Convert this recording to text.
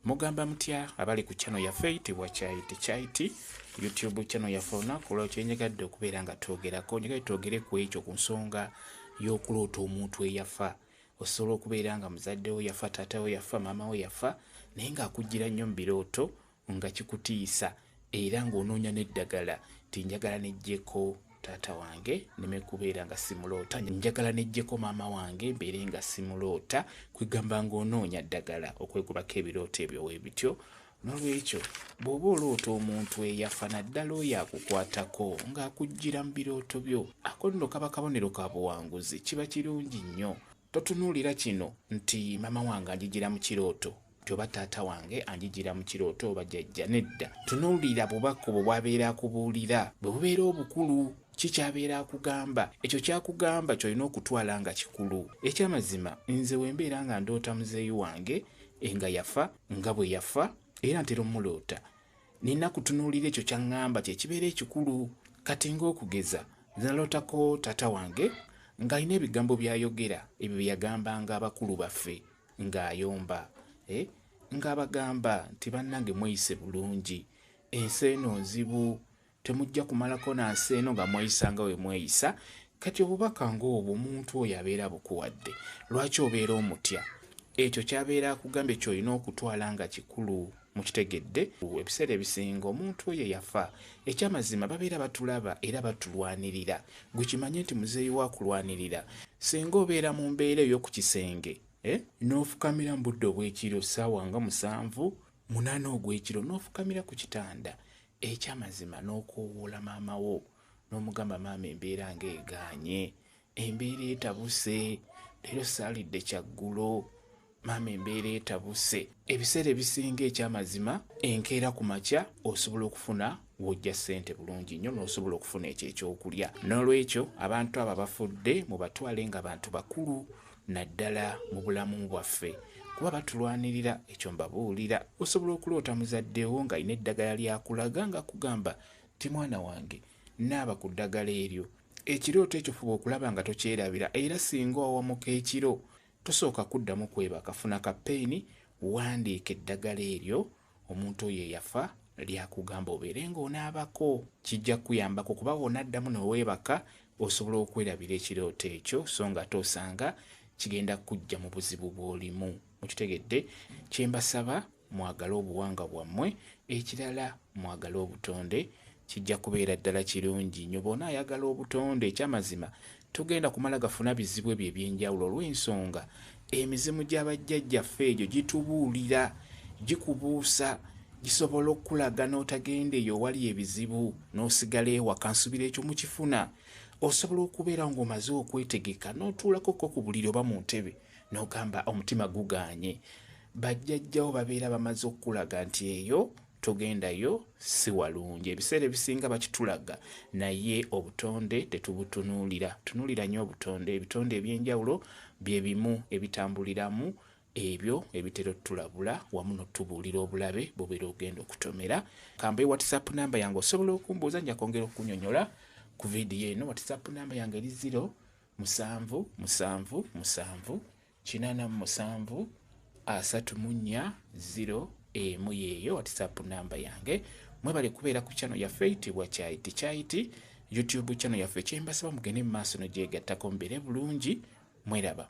Mugamba mutya abali ku channel yaffe eyitibwa Chai Tea Chai Tea YouTube channel yaffe olunaku olwo kyenyagadde okubeera nga twogerako nyagadde twogere ku ekyo ku nsonga y'okuloota omuntu eyafa osobola okubeera nga muzadde wo yafa taata wo yafa maama wo yafa naye ng'akuggira nnyo mu birooto nga kikutiisa era ng'onoonya n'eddagala nti njagala nejjeko taata wange neme kubeera nga simuloota njagala nejjeko maama wange mbeere nga simuloota kwegamba ng'onoonya ddagala okwegobako ebirooto ebyo webityo nolwekyo bw'oba oloota omuntu eyafa naddala oyo akukwatako ng'akuggira mu birooto byo ako nno kaba kabonero ka buwanguzi kiba kirungi nnyo Totunuulira kino nti maama wange anjijira mu kirooto nti oba taata wange anjijira mu kirooto oba jajja nedda. Tunuulira bubaka obwo bw'abeera akubuulira. Bwe bubeera obukulu, ki ky'abeera akugamba? Ekyo ky'akugamba ky'olina okutwala nga kikulu. Eky'amazima nze bwe mbeera nga ndoota muzeeyi wange nga yafa, nga bwe yafa, era ntera omuloota, Nina kutunuulira ekyo ky'aŋŋamba kye kibeera ekikulu. Kati ng'okugeza, nze nalootako taata wange ng'alina ebigambo by'ayogera, ebyo bye yagambanga abakulu baffe ng'ayomba, eh, ng'abagamba nti, Bannange mweyise bulungi. Ensi eno nzibu. Temujja kumalako na nsi eno nga mweyisa nga we mweyisa. Kati obubaka ng'obwo omuntu oyo abeera bukuwadde, lwaki obeera omutya? Ekyo ky'abeera akugambye ky'olina okutwala nga kikulu. Mukitegedde? Ebiseera ebisinga omuntu oyo yafa, eky'amazima babeera batulaba era batulwanirira. Gwe kimanye nti muzeeyi wo akulwanirira. Singa obeera mu mbeera ey'oku kisenge, eh, n'ofukamira mu budde obw'ekiro, ssaawa nga musanvu, munaana ogw'ekiro, n'ofukamira ku kitanda, Ekyamazima n'okoowoola maama wo n'omugamba maama embeera nga egaanye, embeera etabuse, leero saalidde kyaggulo, maama embeera etabuse. Ebiseera ebisinga ekyamazima enkeera ku makya osobola okufuna wojja ssente bulungi nnyo n'osobola okufuna ekyo ekyokulya. N'olwekyo abantu abo abafudde mubatwale nga bantu bakulu naddala mu bulamu bwaffe kuba batulwanirira ekyo mbabuulira osobola okuloota muzadde wo ng'alina eddagala lyakulaga nga kugamba ti mwana wange naaba ku ddagala eryo ekirooto ekyo fuba okulaba nga tokyerabira era singa owamuka ekiro tosooka kuddamu kwebaka funa ka peyini wandiika eddagala eryo omuntu oyo eyafa lyakugamba obeere ng'onaabako kijja kukuyambako kuba w'onaddamu ne weebaka osobola okwerabira ekirooto ekyo so ng'ate osanga kigenda kujja mu buzibu bw'olimu mukitegedde kye mbasaba mwagale obuwanga bwammwe ekirala mwagale obutonde kijja kubeera ddala kirungi nyo bona ayagala obutonde ekyamazima Togenda kumala gafuna bizibu ebyo eby'enjawulo olw'ensonga emizimu gya bajjajjaffe egyo gitubuulira, gikubuusa, gisobola okukulaga n'otagenda eyo owali ebizibu n'osigala ewaka nsubira ekyo mukifuna. Osobola okubeera ng'omaze okwetegeka n'otuulako ko ku buliri oba mu ntebe n'ogamba omutima gugaanye. Bajjajjawo babeera bamaze okukulaga nti eyo togendayo si walungi ebiseera ebisinga bakitulaga naye obutonde tetubutunuulira tunuulira nyo obutonde ebitonde ebyenjawulo bye bimu ebitambuliramu ebyo ebitera otulabula wamu notubuulira obulabe bubera ogenda okutomera kambe whatsapp namba yange osobola okumbuuza nja kwongera okunyonyola ku vidiyo eno whatsapp namba yange eri ziro musanvu musanvu musanvu kinana mu musanvu asatu mu nnya ziro emu yeeyo whatsapp namba yange mwebale kubeera ku channel yaffe itibwa kyayiti kyayiti youtube channel yaffe kyembasaba mugende mu maaso no gyegattako mbeere bulungi mweraba